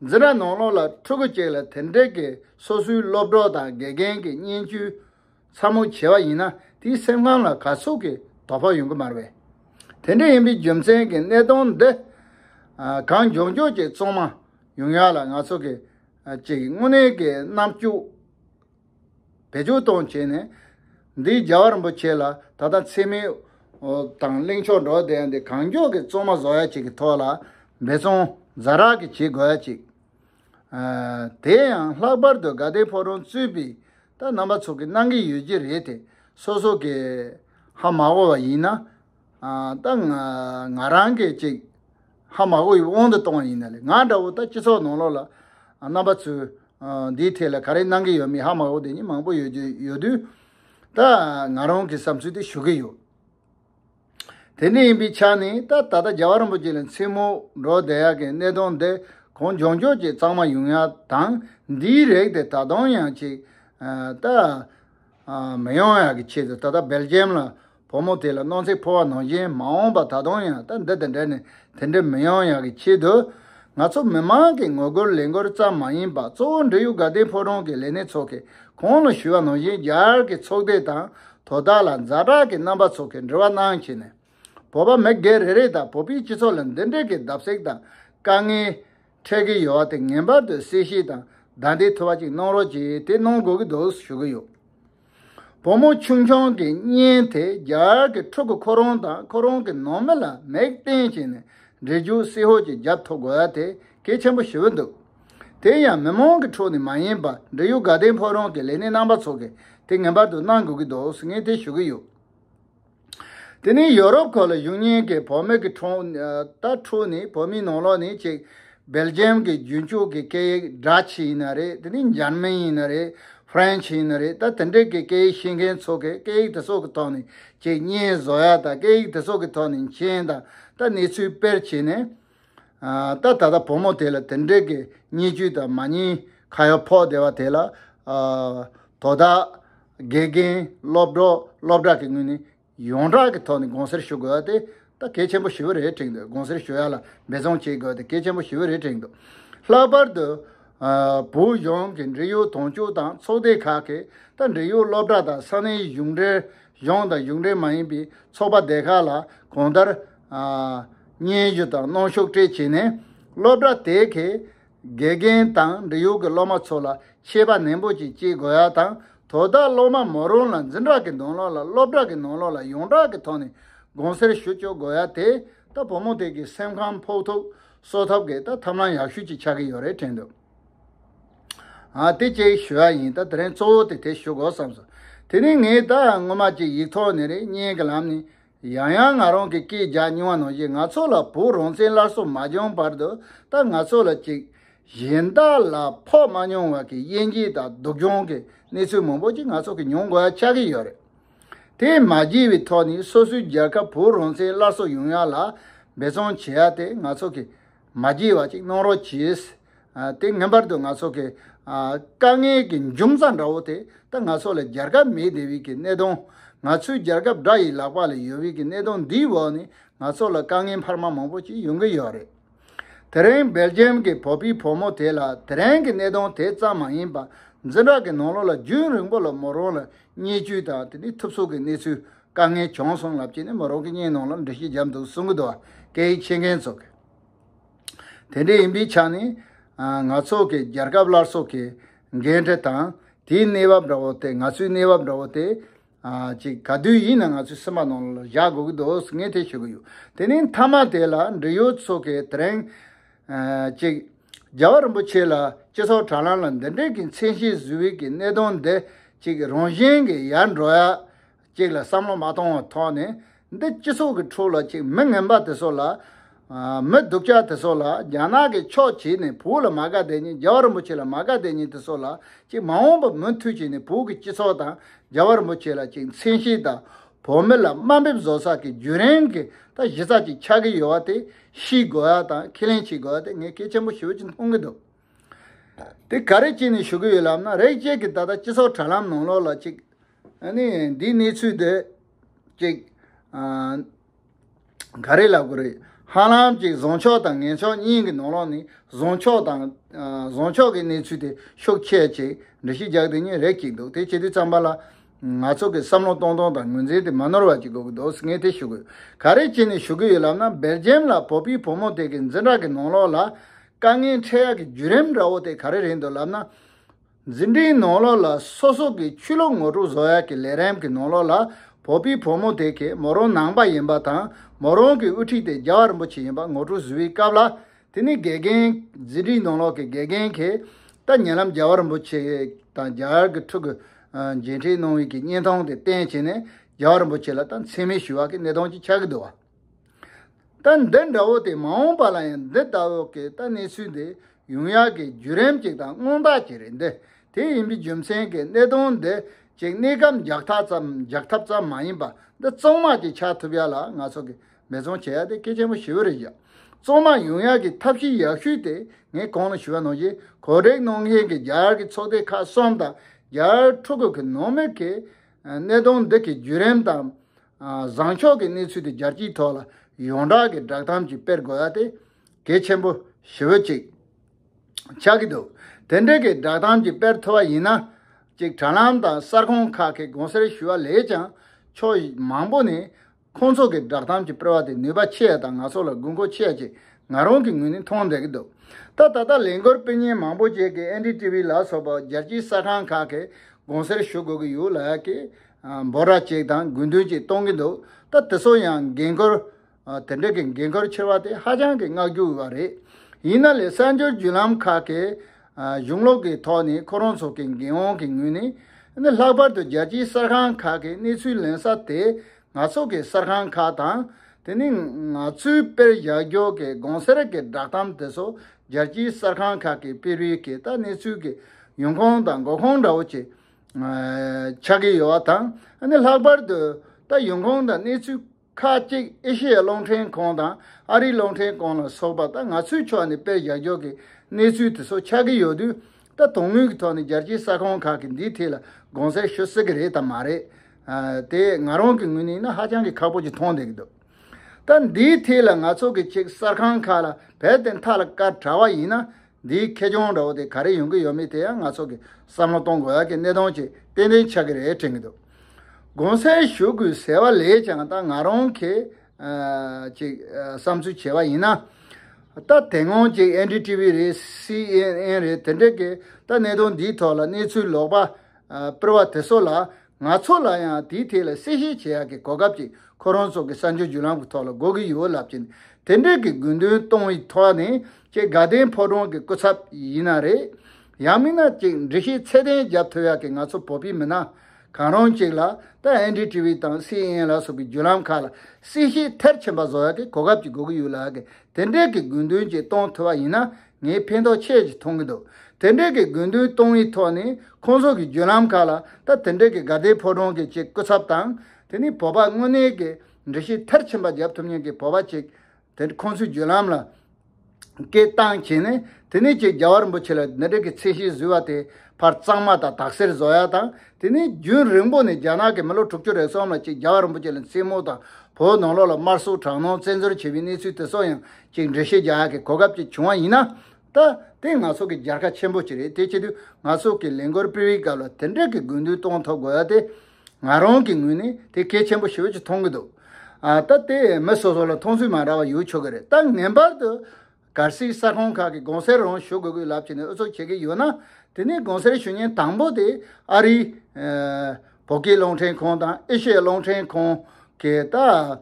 འཛི་ར་ནོར་ལོག་ལ་ཕྲུ་གུ་གཅིག་ལ་དེ་འདྲེ་གི་སོ་སོའི་སློབ་གྲོགས་དང་དགེ་རྒན་གི་བརྙན་བཅུའི་མཚམས་མོ་བྱེ་བ་ཡིན་ན་དེའི་སེམས་ཁམས་ལ་ག་སོགས་ཀྱི་དོ་ཕོག་ཡོང་གི་མར་བས། དེ་འདྲ་ཡིན་པའི་རྒྱུ་མཚན་གྱི་གནད་དོན་འདི་གང་མགྱོགས་མགྱོགས་ཀྱི་གཙང་མ་ཡོང་ཡག་ལ་ང་ཚོ་གིས་ཅིག་དངོས་གནས་ཀྱི་རྣམ་དཔྱོད་བེད་སྤྱོད་གཏོང་བྱས་ནས་འདི་རྒྱ་བ་རིན་པོ་ཆེ་ལ་ད་ལྟ་འཚེ་མེད་དང་གླེང་ཕྱོགས་འགྲོ་བསྡད་འདི་གང་མགྱོགས་ཀྱི་གཙང་མ་བཟོ་ཡག་ཅིག་གི་ཐོག་ལ་འབད་བརྩོན་རྫ་རག་གི་བྱེད་དགོས་ཡག་ཅིག། དེ་ཡང་ལྷག་པར་དུ་དགའ་ལྡན་ཕོ་རོང་གཙོས་པའི་སྟག་རྣམ་པ་ཚོ་གིས་གནང་གི་ཡོད་ཀྱི་རེད་དེ་སོ་སོ་གིས་ཧ་མ་གོ་བ་ཡིན་ན་ད་ང་རང་གིས་ཅིག་ཧ་མ་གོ་ཡི་དབང་དུ་གཏོང་བ་ཡིན་ན་ལེ་ང་འདྲ་བོ་ད་སྤྱི་ཚོགས་ནང་ལོགས་ལ་རྣམ་པ་ཚོས་འདིའི་ཐད་ལ་ག་རེ་གནང་གི་ཡོད་མེད་ཧ་མ་གོ་དེ་གཉིས་མང་པོ་ཡོད་དུས་ད་ང་རང་གིས་བསམ་ཚུལ་དེ་ཞུ་གི་ཡོད། དེ་འདྲ་ཡིན་པའི་ཆ་ནས་ད་ད་ལྟ་རྒྱལ་བ་རིན་པོ་ཆེ་ལ་མཚན་མོ་འགྲོ་བསྡད་ཡག་གི་གནས་སྟངས་འདི་གང་བྱུང་ཆོག་ཅེས་གཙང་མ་ཡུང་ཡ་དང་འདིའི་རེག་དེ་ད་དུང་ཡང་ཅིག་ད་མི་ཡོང་ཡག་གི་ཆེད་དུ་ད་ལྟ་སྦེལ་ཇེམ་ལ་བུ་མོ་དེ་ལ་སྣང་ཚེ་འཕོ་བ་ནང་བཞིན་མ་འོངས་པ་ད་དུང་ཡང་ད་འདི་དེ་འདྲ་ནི་དེ་འདྲ་མི་ཡོང་ཡག་གི་ཆེད་དུ་ང་ཚོ་མི་མང་གི་ངོ་རྒོལ་ལས་འགུལ་ཙམ་མ་ཡིན་པ་གཙོ་བོ་འབྲེལ་ཡོད་དགའ་ལྡན་ཕོ་བྲང་གི་ལས་སྣེ་ཚོ་གིས་གང་ལ་ཞུ་བ་ནང་བཞིན་རྒྱ་གར་གྱི་ཚོགས་སྡེ་དང་དོ་བདག་ལ་མཛའ་གྲགས་ཀྱི་རྣམ་པ་ཚོགས་ཀྱི་འབྲེལ་བ་གནང་བྱས་ནས། བོད་པ་མི་སྒེར་རེ་རེ་དང་བོད་པའི་སྤྱི་ཚོགས་ལ་འདི་འདྲའི་གི་བརྡབ་གསིག་དང་དཀའ་ངལ། འཕྲད་ཀྱི་ཡོད་བ་དེ་ངེས་པར་དུ་གསལ་བཤད་དང་བདའ་འདེད་ཐུབ་པ་ཅིག་གནང་རོགས་ཅེས་དེ་གནང་དགོས་ཀྱི་འདུག་ཞུ་གི་ཡོད། བུ་མོ་ཆུང་ཆུང་གི་བརྙན་དེ་རྒྱ་གར་གྱི་ཕྲུ་གུ་ཁོ་རང་དང་ཁོ་རང་གི་ནང་མི་ལ་མིག་བསྟན་བྱས་ནས་འབྲི་རྒྱུགས་བསིལ་ཧོལ་གྱི་བརྒྱབ་ཐུབ་དགོས་བ་དེ་གལ་ཆེན་པོ་ཞུ་གི་འདུག། དེ་ཡང་མི་མང་གི་ཁྲོད་ནས་མ་ཡིན་པར་འབྲེལ་ཡོད་དགའ་ལྡན་ཕོ་རོང་གི་ལས་སྣེ་རྣམ་པ་ཚོ་གིས་དེ་ངེས་པར་དུ་གནང་དགོས་ཀྱི་འདུག་ཟེར་ངེས་དེ་ཞུ་གི་ཡོད། དེ་ནི་ཡོ་རོབ་གོ་ལ་གཞུང་གཉིས་ཀྱི་བོད་མི་གི་ཁྲོད་ད་ཕྲུག་ནི་བོད་མིའི་ནང་ལོགས་ནི་གཅིག་སྦེལ་ཇེམ་གྱི་རྒྱུན་སྤྱོད་ཀྱི་སྐད་ཡིག་སྦྲ་ཆི་ཡིན་ན་རེད་དེ་ནི་འཇར་མན་ཡིན་ན་རེད་ཧྥེན་ཆི་ཡིན་ན་རེད་ད་དེ་འདྲས་ཀྱི་སྐད་ཡིག་ཤེས་མཁན་ཚོ་གིས་སྐད་ཡིག་དེ་ཚོ་གི་ཐོག་ནས་གཅིག་གཉིས་བཟོ་ཡག་དང་སྐད་ཡིག་དེ་ཚོ་གི་ཐོག་ནས་མཆན་དང་ད་གནས་ཚུལ་དཔེར་བྱས་ནས་ད་ད་ད་བུ་མོ་དེ་ལ་དེ་འདྲའི་གི་བརྙས་བཅོས་དང་མ་བརྙས་ཁ་ཡོག་ཕོག་བསྡད་པ་དེ་ལ། དོ་བདག། དགེ་རྒན། སློབ་གྲོགས་སློབ་གྲྭ་གི་ངོས་ནས་ཡོངས་གྲགས་ཀྱི་ཐོག་ནས་དགོངས་སེལ་ཞུ་དགོས་པ་དེ་ད་གལ་ཆེན་པོ་ཞེ་བོ་རེད་དྲན་འདུག་དགོངས་སེལ་ཞུ་ཡ་ལ་འབད་བརྩོན་བྱེད་དགོས་པ་དེ་གལ་ཆེན་པོ་ཞེ་བོ་རེད་དྲན་འདུག་ལྷག་པར་དུ། བོད་གཞུང་གི་འབྲེལ་ཡོད་དོན་གཅོད་དང་ཚོགས་སྡེ་ཁག་གིས་ད་འབྲེལ་ཡོད་སློབ་གྲྭ་དང་ས་གནས་གཞུང་འབྲེལ་གཞུང་དང་གཞུང་འབྲེལ་མ་ཡིན་པའི་ཚོགས་པ་སྡེ་ཁག་ལ་གང་ལྟར། སྙན་ཞུ་དང་གནང་ཤོག་སྤྲད་བྱས་ནས་སློབ་གྲྭ་དེ་གའི་དགེ་རྒན་དང་འབྲེལ་ཡོད་ཀྱི་སློབ་མ་ཚོ་ལ་ཤེས་པ་ནན་པོ་ཅིག་སྐྱེས་དགོས་ཡ་དང་དོ་བདག་སློབ་མ་མོ་རང་ལ་འཛིན་གྲྭ་གི་འདོན་ལོག་ལ་སློབ་གྲྭ་གི་ནང་ལོག་ལ་ཡོངས་གྲགས་ཀྱི་ཐོག་ནས་དགོངས་སེལ་ཞུ་བཅུག་དགོས་ཡ་དེ་ལྟ་བུ་མོ་དེ་གའི་སེམས་ཁམས་ཕོག་ཐུག་གསོ་ཐབས་གི་ལྟ་ཐབས་ལམ་ཡག་ཤོས་ཅིག་ཆགས་ཀྱི་ཡོད་རེད་དྲན་འདུག་དེ་གཅིག་ཞུ་ཡ་ཡིན་ད་དེ་རིང་གཙོ་བོ་དེ་དེ་ཞུ་དགོས་བསམ་སོང་དེ་རིང་ངས་ད་སྔོན་མ་གཅིག་ཡིག་ཐོག་ནས་རེ་སྙན་གྱི་ལམ་ནས་ཡང་ཡང་ང་རང་གི་སྐད་རྒྱག་སྙིང་བ་ནང་བཞིན་ང་ཚོ་ལ་བོད་རང་བཙན་སླར་གསོ་མ་བྱུང་བར་དུ་ད་ང་ཚོ་ལ་ཅིག། གཞན་དག་ལ་ཕོག་མ་མྱོང་བར་གྱི་དབྱེ་འབྱེད་དང་སྡུག་སྦྱོང་གི་གནས་ཚུལ་མང་པོ་ཅིག་ང་ཚོ་གིས་མྱོང་དགོས་ཡ་ཆགས་ཀྱི་ཡོད་རེད། དེ་མ་བགྱིས་པའི་ཐོག་ནས་སོ་སོའི་རྒྱལ་ཁབ་བོད་རང་བཙན་སླར་གསོ་ཡོང་ཡ་ལ་འབད་བརྩོན་བྱེད་ཡ་དེ་ང་ཚོ་གིས་མ་བགྱིས་བ་ཅིག་གནང་རོགས་གྱིས། དེ་ངན་པར་དུ་ང་ཚོ་གི། དཀའ་ངལ་གྱི་འབྱུང་རྩ་འདྲ་བོ་དེ་ད་ང་ཚོ་ལ་རྒྱལ་ཁབ་མེད་དེ་བས་ཀྱི་གནད་དོན། ང་ཚོའི་རྒྱལ་ཁབ་དགྲ་ཡི་ལག་པ་ལ་ཡོད་བས་ཀྱི་གནད་དོན་འདིའི་འོག་ནས་ང་ཚོ་ལ་དཀའ་ངལ་འཕར་མ་མང་པོ་ཅིག་ཡོང་གི་ཡོད་རེད། དེ་རིང་སྦེལ་ཇེམ་གྱི་བོད་པའི་བུ་མོ་དེ་ལ་དེ་རིང་གི་གནད་དོན་དེ་ཙམ་མ་ཡིན་པར་འཛིན་གྲྭ་གི་ནང་ལོགས་ལ་རྒྱུན་རིང་པོ་ལ་མོ་རང་ལ་བརྙས་བཅོས་དང་དེ་ནས་ཐུབ་ཚོད་ཀྱི་གནས་ཚུལ་དཀའ་ངལ་བྱུང་སོང་ལབ་ཀྱི་ནི་མོ་རང་གི་སྙིང་ནང་ལ་འདྲི་གཞི་འཇམ་འདུག་གསུང་གི་འདུག་སྐད་ཡིག་ཤེས་མཁན་ཚོ། དེ་འདྲ་ཡིན་པའི་ཆ་ནས། ང་ཚོ་གི་རྒྱལ་ཁབ་སླར་གསོ་གི་འགན་འཁྲི་དང་དེའི་གནས་བབ་འདྲ་བོ་དེ་ང་ཚོའི་གནས་བབ་འདྲ་བོ་དེ། ཅིག་ག་དུས་ཡིན་ན་ང་ཚོའི་སེམས་པ་ནང་ལ་བཞག་དགོས་ཀྱི་འདུག་ངས་དེ་ཤོད་ཀྱི་ཡོད། དེ་ནས་མཐའ་མ་དེ་ལ་འབྲེལ་ཡོད་ཚོ་གི་དེ་རིང། གཅིག། རྒྱལ་བ་རིན་པོ་ཆེ་ལ་སྤྱི་ཚོགས་དྲ་ལམ་ལ་འདི་འདྲའི་གི་མཚན་གཞི་བཟོས་བའི་གི་གནད་དོན་འདི་གཅིག་རང་བཞིན་གི་ཡར་འགྲོ་ཡ་གཅིག་ལ་བསམ་བློ་མ་གཏོང་བ་ཐོག་ནས་འདི་སྤྱི་ཚོགས་གི་འཕྲོ་ལ་གཅིག་མི་ངན་པ་དེ་ཚོ་ལ། མི་སྡུག་ཅག་དེ་ཚོ་ལ་རྒྱ་ནག་གི་ཕྱོགས་བྱས་ནས་བོད་ལ་མ་དགའ་བསྡད་ཉིན་རྒྱལ་བ་རིན་པོ་ཆེ་ལ་མ་དགའ་བསྡད་ཉིན་དེ་ཚོ་ལ་གཅིག་མ་འོངས་པ་མུན་མཐུད་བྱས་ནས་བོད་གི་སྤྱི་ཚོགས་དང་རྒྱལ་བ་རིན་པོ་ཆེ་ལ་གཅིག་མཚན་གཞི་དང་བོད་མི་ལ་དམའ་འབེབས་བཟོ་ས་གི་རྒྱུན་རིང་གི་ད་གཞི་རྩ་གཅིག་ཆགས་གི་ཡོད་བ་དེ་ཤིས་དགོས་བ་དང་ཁས་ལེན་བྱེད་དགོས་བ་དེ་ངས་སྐད་ཆེན་པོ་ཞུ་ཅིག་མཐོང་གི་འདུག་དེ་ག་རེ་བྱས་ནས་ཞུ་གི་ཡོད་ལབ་ན་རེག་བྱས་ཀྱི་ད་ལྟ་སྤྱི་ཚོགས་དྲ་ལམ་ནང་ལོག་ལ་ཅིག་ནི་འདིའི་གནས་ཚུལ་འདི་ཅིག་ག་རེ་ལབ་དགོས་རེད་ཧང་ལམ་ཅིག་བཟང་ཕྱོགས་དང་ངན་ཕྱོགས་གཉིས་ཀྱི་ནང་ལོག་ནས་བཟང་ཕྱོགས་དང་བཟང་ཕྱོགས་ཀྱི་གནས་ཚུལ་དེ་ཤུགས་ཆེ་ཅིག་འདྲི་ཞིག་རྒྱག་དེ་གཉིས་རེག་ཅིག་འདུག་དེ་བྱས་དུས་ཙམ་པ་ལ། ང་ཚོ་གི་བསམ་བློ་གཏོང་སྟངས་དང་ངོས་འཛིན་དེ་མ་ནོར་བ་ཅིག་དགོས་ཀྱི་འདུག་ངས་དེ་ཞུ་དགོས་ག་རེ་བྱས་ནས་ཞུ་གི་ཡོད་ལབ་ན་སྦེལ་ཇེམ་ལ་བོད་པའི་བུ་མོ་དེ་གི་འཛིན་གྲྭ་གི་ནང་ལོགས་ལ་དཀའ་ངལ་འཕྲད་ཡག་གི་བརྒྱུད་རིམ་འདྲ་བོ་དེ་ག་རེ་རེད་འདུག་ལབ་ན། འཛིན་གྲྭའི་ནང་ལོགས་ལ་སོ་སོ་གི་ཆོས་ལུགས་ངོ་དྲུག་བཟོ་ཡག་གི་ལས་རིམ་གི་ནང་ལོགས་ལ་བོད་པའི་བུ་མོ་དེ་གི་མོ་རང་ནང་པ་ཡིན་པ་དང་མོ་རང་གི་དབུ་ཁྲིད་དེ་རྒྱ་བ་རིན་པོ་ཆེ་ཡིན་པ་ངོ་དྲུག་བཟོ་བའི་སྐབས་ལ་དེ་ནི་དགེ་རྒན། ཟིན་བྲིས་ནང་ལོགས་ཀྱི་དགེ་རྒན་གྱིས་ལྟ་ཉན་ལམ་རྒྱལ་བ་རིན་པོ་ཆེ་དང་རྒྱ་གར་གྱི་ཕྲུ་གུ་མཇལ་འཕྲད་གནང་ཡུལ་གྱི་བརྙན་ཐུང་དེ་བསྟན་བྱས་ནས་རྒྱལ་བ་རིན་པོ་ཆེ་ལ་ལྟ་མཚན་མེད་ཞུ་བ་གི་གནད་དོན་གཅིག་ཆགས་ཀྱི་འདུག་བ། ལྟ་འདི་འདྲ་བོ་དེ་མ་འོངས་པ་ལ་ཡང་འདི་ལྟ་བུ་གི་ལྟ་གནས་ཚུལ་འདི་ཡོང་ཡག་གི་བརྒྱུད་རིམ་གཅིག་དང་མངོན་རྟགས་གཅིག་རེད་འདི་དེ་ཡིན་པའི་རྒྱུ་མཚན་གྱི་གནད་དོན་འདི་གཅིག་གནས་སྐབས་འཇགས་ཐབས་ཙམ་འཇགས་ཐབས་ཙམ་མ་ཡིན་པ་འདི་གཙང་མ་གཅིག་ཆགས་ཐུབ་ཡག་ལ་ང་ཚོ་གི་མེ་ཚོང་བྱེད་ཡག་དེ་སྐད་ཆེན་པོ་ཞི་བ་རེད་ཡ། གཙང་མ་ཡོང་ཡག་གི་ཐབས་ཤེས་ཡག་ཤོས་དེ་ངས་གང་ལ་ཞུ་བ་གནང་རྗེས་གོ་སྒྲིག་གནང་མཁན་གྱི་རྒྱ་གར་གྱི་ཚོགས་སྡེ་ཁག་གསུམ་དང་རྒྱ་གར་ཕྲུ་གུ་གི་ནང་མི་གིས་གནད་དོན་འདི་གི་བརྒྱུད་རིམ་དང། བཟང་ཕྱོགས་ཀྱི་གནས་ཚུལ་དེ་རྒྱལ་སྤྱིའི་ཐོག་ལ་ཡོངས་གྲགས་ཀྱི་བསྒྲགས་གཏམ་གྱིས་སྤེལ་དགོས་ཡ་དེ་གལ་ཆེན་པོ་ཞི་བོ་གཅིག་ཆགས་ཀྱི་འདུག་དེ་འདྲའི་གི་བསྒྲགས་གཏམ་གྱིས་སྤེལ་ཐུབ་པ་ཡིན་ན་ཅིག་དྲ་ལམ་དང་གསར་ཁང་ཁག་གི་དགོངས་སེལ་ཞུ་བ་ལས་ཀྱང་ཕྱོགས་མང་པོ་ནས་ཁོང་ཚོ་གི་བསྒྲགས་གཏམ་གྱི་སྤེལ་བ་དེ་ནུས་པ་ཆེ་ཡ་དང་ང་ཚོ་ལ་དགོས་མཁོ་ཆེ་ཡ་ཅིག་ང་རང་གི་ངོས་ནས་མཐོང་མཛད་ཀྱི་འདུག་ད་ད་ལྟ་ལས་འགུལ་སྤེལ་ཉེན་མང་པོ་བྱས་ཀྱི་ཨན་ཀྲི་ཏི་བི་ལ་སོགས་པ་རྒྱལ་སྤྱིའི་གསར་ཁང་ཁག་གི་དགོངས་སེལ་ཞུ་དགོས་ཀྱི་ཡོད་ལ་ཀྱི་འབོད་ར་ཅིག་དང་དགོས་འདུན་ཅིག་གཏོང་གི་འདུག་ད་དེ་ཚོ་ཡང་འགན་ཁུར། དེ་འདྲ་གི་འགན་ཁུར་ཕྱིར་བ་དེ་ཧ་ཅང་གི་བསྔགས་རྒྱུ་ཡོད་པ་རེད། ཡིན་ན་ལས་གསར་འགྱུར་བརྒྱུད་ལམ་ཁག་གི། གཞུང་ལུགས་ཀྱི་ཐོག་ནས་ཁོ་རང་ཚོ་གི་འགན་དབང་གི་ངོས་ནས་ནི་ལྷག་པར་དུ་རྒྱལ་སྤྱིའི་གསར་ཁང་ཁག་གི་གནས་ཚུལ་ལེན་ས་དེ་ང་ཚོ་གི་གསར་ཁང་ཁག་དང། དེ་ནི་ང་ཚོའི་དཔེར་བཞག་རྒྱུགས་ཀྱི་དགོང་ཟེར་གྱི་བསྒྲགས་གཏམ་དེ་ཚོ་རྒྱལ་སྤྱིའི་གསར་ཁང་ཁག་གི་དཔེ་རིས་ཀྱི་ལྟ་གནས་ཚུལ་གྱི་ཡོང་ཁུངས་དང་འགོ་ཁུངས་འདྲ་བོ་ཆགས་ཀྱི་ཡོད་པ་དང་ནི་ལྷག་པར་དུ་ལྟ་ཡོང་ཁུངས་དང་གནས་ཚུལ། ཁག་གཅིག་ཨེ་ཤི་ཡའི་གློག་འཕྲིན་ཁང་དང་ཨ་རིའི་གློག་འཕྲིན་ཁང་ལ་སོགས་པ་དང་ང་ཚོའི་ཕྱོགས་ནས་དཔེ་བཞག་འཇོག་གི་གནས་ཚུལ་དེ་ཚོ་ཆགས་ཀྱི་ཡོད་དུས་ད་དུང་དངུལ་གྱི་ཐོག་ནས་རྒྱལ་སྤྱིའི་ས་ཁོངས་ཁག་གི་འདིའི་ཐད་ལ་དགོངས་སེལ་ཞུ་སྲིད་ཀྱི་རེད་དམ་མ་རེད། དེ་ང་རང་གི་ངོས་ནས་ཡིན་ན་ཧ་ཅང་གི་ཁག་པོ་ཅིག་མཐོང་བསྡད་ཀྱི་འདུག་ད་འདིའི་ཐད་ལ་ང་ཚོ་གི་ཅིག་གསར་ཁང་ཁག་ལ་བལ་ཏེ་མཐའ་ལ་བཀའ་དྲ་བ་ཡིན་ན་འདིའི་ཁེ་གྱོང་འདྲ་བོ་དེ་ག་རེ་ཡོང་གི་ཡོད་མེད་དེ་ཡང་ང་ཚོ་གིས་བསམ་བློ་གཏོང་དགོས་ཡག་གི་གནད་དོན་ཅིག་ཏན་ཏན་ཆགས་ཀྱི་རེད་དྲན་གྱི་འདུག་དགོངས་སེལ་ཞུ་དགོས་ཟེར་བ་ལས་ཀྱང་ད་ང་རང་གིས་ཅིག་བསམ་ཚུལ་བྱས་པ་ཡིན་ན། ད་དེ་སྔོན་ཅིག་ཨན་ཀྲི་ཏི་བི་རེད་སི་ཨན་ཨན་རེད་དེ་འདྲ་གིས་ད་གནད་དོན་འདིའི་ཐོག་ལ་གནས་ཚུལ་ལོག་པ་སྤེལ་བ་དེ་ཚོ་ལ་ང་ཚོ་ལ་ཡང་དེའི་ཐད་ལ་གསལ་བཤད་བྱེད་ཡག་གི་གོ་སྐབས་ཅིག་ཁོ་རང་ཚོ་གི་གསར་འགྱུར་བརྒྱུད་ལམ་གི་ཐོག་ལ་དགོས་ཀྱི་ཡོད་ལབ་ཀྱི་འདུག་དེ་འབྲེལ་གྱི་དགོས་འདུན་གཏོང་བའི་ཐོག་ནས་ཀྱི་དགའ་ལྡན་ཕོ་བྲང་གི་སྐུ་ཚབ་ཡིན་ན་རེད། ཡང་མིན་ན་ཅིག་འབྲི་ཤེས་ཚད་ལྡན་རྒྱབ་ཐོ་ཡག་གི་ང་ཚོ་བོད་པའི་མི་སྣ་གང་རུང་ཅིག་ལ་ད་ཨེན་ལྡི་ཏི་བི་དང་སི་ཨེན་ཨེན་ལ་སོགས་ཀྱི་བརྒྱུད་ལམ་ཁག་ལ་གསལ་བཤད་ཐེར་ཆེན་པ་བཟོ་ཡག་གི་གོ་སྐབས་ཅིག་དགོས་ཀྱི་ཡོད་ལགས་ཀྱི་དེ་འབྲེལ་གྱི་དགོས་འདུན་ཅིག་གཏོང་ཐུབ་པ་ཡིན་ན་ངས་ཕན་ཐོགས་ཆེ་ཞིག་མཐོང་གི་འདུག་དེ་འབྲེལ་གྱི་དགོས་འདུན་གཏོང་བའི་ཐོག་ནས་ཁོང་ཚོ་གི་བརྒྱུད་ལམ་ཁག་ལ་ད་དེ་འབྲེལ་གྱི་དགའ་དད་ཕོ་བྲང་གི་ཅིག་སྐུ་ཚབ་དང་དེ་ནས་བོད་པ་དངོས་གནས་ཀྱི་འདྲི་གཞི་མཐར་ཕྱིན་པ་བརྒྱབ་ཐུབ་མཁན་གྱི་བོད་པ་ཅིག་དེ་ཁོང་ཚོའི་བརྒྱུད་ལམ་ལ་སྐད་བཏང་བྱས་ནས་དེ་ནས་ཅིག་རྒྱ་བ་རིན་པོ་ཆེ་ལ་འདི་འབྲེལ་གྱི་ཚད་གཞི་བཟོས་བ་དེ་ཕར་གཙང་མ་དང་དག་སེལ་བཟོ་ཡ་དང་དེ་ནས་རྒྱུན་རིང་པོ་ནས་རྒྱ་ནག་གི་མི་ལོ་དྲུག་ཅུ་རེ་གསུམ་ལ་ཅིག་རྒྱ་བ་རིན་པོ་ཆེ་ལ་མཚན་མོ་དང་བོད་ནང་ལོགས་ལ་དམར་གསོད་དྲག་གནོན་བཙན་འཛུལ་བྱས་པའི་གནས་ཚུལ་དེ་ཚོ་ཡང་ཅིག་འགྲེལ་བཤད་རྒྱག་གི་གོ་སྐབས་ཅིག་བྱུང་བ་ཡིན་ན། ད་དེ་ང་ཚོ་གི་སྦྱར་ཁ་ཆེན་པོ་ཅིག་རེད་དེ་ཆེད་དུ་ང་ཚོ་གི་ལས་འགོར་སྤེལ་བའི་སྐབས་ལ་དེ་འདྲ་གི་དགོས་འདུན་གཏོང་ཐོབ་དགོས་ཡ་དེ། ང་རང་གི་ངོས་ནས་དེ་གལ་ཆེན་པོ་ཞིག་ཅིག་མཐོང་གི་འདུག་ད་དེ་མི་སོ་སོ་ལ་མཐོང་ཚུལ་མ་འདྲ་བ་ཡོད་ཆོག་གི་རེད་ད་ངན་པར་དུ། གར་སིག་ས་ཁོངས་ཁག་གི་དགོང་ཟས་རང་ཞུ་དགོས་དགོས་ལབ་བྱས་ནས་ཨུ་ཚུགས་བྱེད་ཀྱི་ཡོད་ན། དེ་ནས་དགོང་ཟས་ཞུ་ཉེན་དང་པོ་དེ་ཨ་རིའི། བོད་སྐད་རླུང་འཕྲིན་ཁང་དང་ཨེ་ཤེ་ཡ་རླུང་འཕྲིན་ཁང་གིས་ད།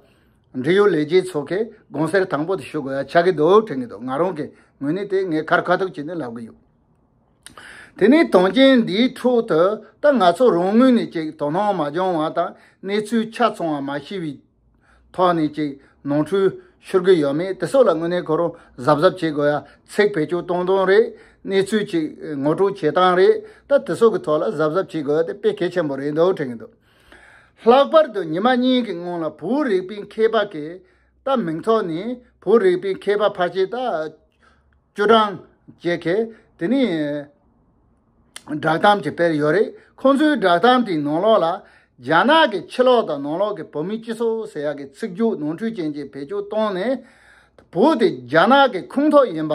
འབྲེལ་ཡོད་ལས་བྱེད་ཚོ་གིས་དགོངས་སེལ་དང་པོ་དེ་ཞུ་དགོས་ཡ་ཆགས་ཀྱི་འདུག་དྲན་གྱི་འདུག་ང་རང་གིས་ངོས་ནས་དེ་ངའི་ཁར་ཁ་ཐུག་བྱས་ནས་ལབ་ཀྱི་ཡོད། དེ་ནས་དོན་རྐྱེན་འདིའི་ཁྲོད་དུ་ད་ང་ཚོ་རང་ངོས་ནས་ཅིག་དོ་སྣང་མ་སྦྱོང་བ་དང་གནས་ཚུལ་ཆ་ཚང་བ་མ་ཤེས་པའི་ཐོག་ནས་ཅིག་ནོར་འཁྲུལ་ཤོར་གྱི་ཡོད་མེད་དེ་སོགས་ལ་དངོས་གནས་ཁོ་རང་གཟབ་གཟབ་བྱེད་དགོས་ཡ་ཚེགས་བེད་སྤྱོད་གཏོང་སྟངས་རེད་གནས་ཚུལ་ཅིག་ངོ་སྤྲོད་བྱེད་སྟངས་རེད་ད་དེ་སོགས་ཀྱི་ཐོག་ལ་གཟབ་གཟབ་བྱེད་དགོས་དེ་དཔེ་གལ་ཆེན་པོ་རེད་འདུག་དྲན་གྱི་འདུག། ལྷག་པར་དུ་ཉི་མ་གཉིས་ཀྱི་སྔོན་ལ་བོད་རིག་པའི་མཁས་པ་གས་རྟ་མིང་ཐོག་ནས་བོད་རིག་པའི་མཁས་པ་ཕར་ཆེར་རྟ་བཅུ་གྲངས་བཅས་གས་དེ་ནས་བསྒྲགས་གཏམ་གྱི་སྤེལ་ཡོད་རེད་ཁོང་ཚོའི་བསྒྲགས་གཏམ་དེའི་ནང་ལོགས་ལ་རྒྱ་ནག་གི་ཕྱི་ལོགས་དང་ནང་ལོགས་ཀྱི་བོད་མི་སྤྱི་ཚོགས་ཟེར་ཡག་གི་ཚིག་རྒྱུགས་ནོར་འཁྲུལ་ཅན་གྱི་བེད་སྤྱོད་བཏང་ནས་བོད་དེ་རྒྱ་ནག་གི་ཁུངས་ཐོག་ཡིན་པ་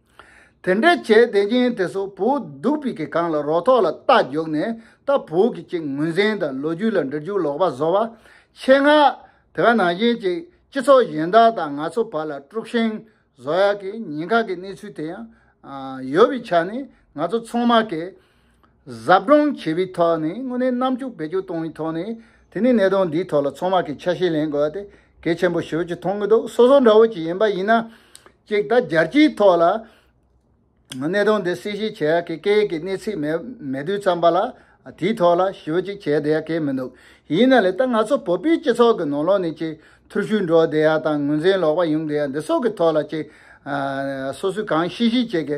དེ་འདྲ་བྱས་བསྡད་ཀྱིན་དེ་སོག་བོ་སྡུག་པི་གི་གང་ལ་རོ་ཐོག་ལ་རྟ་རྒྱོག་ནས་རྟ་བོ་གི་ཅིག་ངོས་ཟན་དང་ལོ་རྒྱུས་ལ་འདྲི་རྒྱུ་ལོག་པ་བཟོ་བ། ཆེད་མངགས། དེ་ག་ནང་བཞིན་ཅིག་སྤྱི་ཚོགས་གཞན་དག་དང་ང་ཚོ་བར་ལ་དཀྲུག་ཤིང་བཟོ་ཡག་གི་ཉིན་ཁག་གི་གནས་ཚུལ་དེ་ཡང། ཡོད་པི་ཆ་ནི་ང་ཚོ་ཚོང་དམག་གི། གཟབ་སྦྲང་བྱེད་པའི་ཐོག་ནས་དངོས་གནས་རྣམ་འགྱུར་བེད་སྤྱོད་གཏོང་བའི་ཐོག་ནས་དེ་ནི་གནད་དོན་འདིའི་ཐོག་ལ་ཚང་མ་གིས་ཆ་ཤས་ལེན་དགོས་ཏེ་གལ་ཆེན་པོ་ཞིག་ཏུ་མཐོང་གི་འདུག་སོ་སོ་འདྲ་བོ་ཅིག་ཡིན་པ་ཡིན་ན་གཅིག་ད་རྒྱལ་སྤྱིའི་ཐོག་ལ་གནད་དོན་འདི་གསལ་བཤད་བྱེད་ཡ་གི་སྐད་ཡིག་གི་གནས་ཚིག་མེད་མེད་དུས་ཙམ་པ་ལ་དེའི་ཐོག་ལ་ཞིབ་ཅིག་བྱེད་བསྡད་ཡ་གི་མི་འདུག་ཡིན་ན་ལས་ད་ང་ཚོ་བོད་པའི་སྤྱི་ཚོགས་ཀྱི་ནང་ལོག་ནས་ཅིག་ཐུར་ཤུལ་འགྲོ་བསྡད་ཡ་དང་ངོས་འཛིན་ལོག་པ་ཡོང་བསྡད་ཡ་འདི་སོགས་ཀྱི་ཐོག་ལ་ཅིག་སོ་སོས་གང་ཤེས་ཤེས་བྱེད་གི